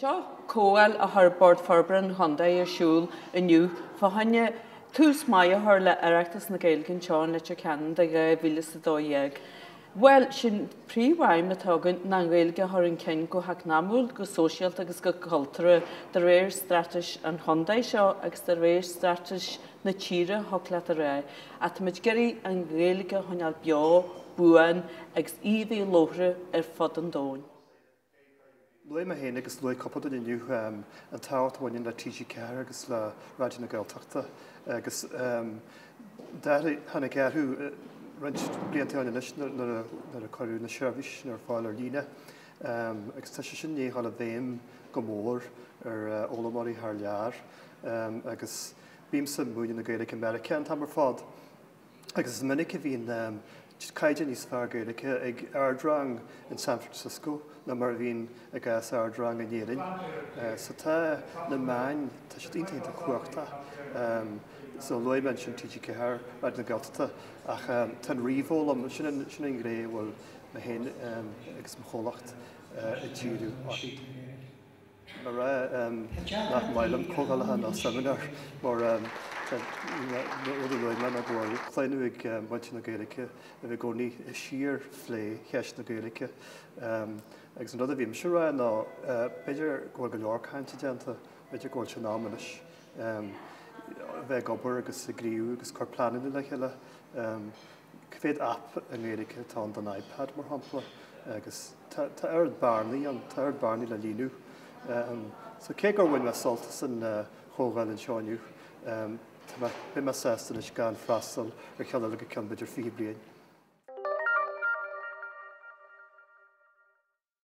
Seo comhdháil a chuir Bord Forbartha an Chontae ar siúl inniu fá choinne tús maith a chur le Oireachtas na Gaeilge anseo in Leitir Ceanainn do 2012. Bhuel, sin príomhaidhm atá againn, ná an Ghaeilge a chur chun cinn go heacnamúil, go sóisialta agus go cultúrtha de réir straitéis an chontae seo agus de réir straitéis na tíre, thiocfadh leat a rá, ach tá muid ag iarraidh an Ghaeilge a choinneáil beo, buan agus í a bheith labhartha ar fud an domhain. Luaigh mé féin agus luaigh cúpla duine inniu an tábhacht a bhaineann le TG4 agus le Raidió na Gaeltachta agus d'athraigh, tháinig athrú roinnt blianta ó shin anois nuair a cuireadh na seirbhísí sin ar fáil ar líne agus tá sé sin i ndiaidh dul i bhfeidhm go mór ar fhoghlaimeoirí thar lear agus bímse ag múineadh na Gaeilge i Meiriceá an t-am ar fad. agus is minic a bhíonn caighdeán níos fearr Gaeilge ag ardrang in San Francisco ná mar a bhíonn i gcás ardrang in Éirinn. So tá na meáin, tá siad iontach cumhachtach. So luaigh mé ansin TG4, Raidió na Gaeltachta ach tá an ríomhfhoghlaim, sin an ghné a bhfuil mé féin agus mo chomhlacht ag díriú uirthi. An fáth nach maith liom comhdhálacha nó seimineáir mar na rudaí a luaigh mé ná go bhfuil claonadh ag muintir na Gaeilge a bheith i gcónaí ag síor-phlé cheist na Gaeilge agus an rud a bhímse a rá ná b'fhéidir go bhfuil go leor cainte déanta, b'fhéidir go bhfuil sé in am anois. a bheith ag obair agus ag gníomhú agus ag cur pleananna le chéile. Cé mhéad aip i nGaeilge atá ann don iPad, mar shampla? Agus tá oiread bearnaí ann, tá oiread bearnaí le líonadh. So cé gur bhain mé sult as an chomhdháil anseo inniu, tá mé, beidh mé sásta anois gan freastal ar cheann eile go ceann b'fhéidir 20 bliain.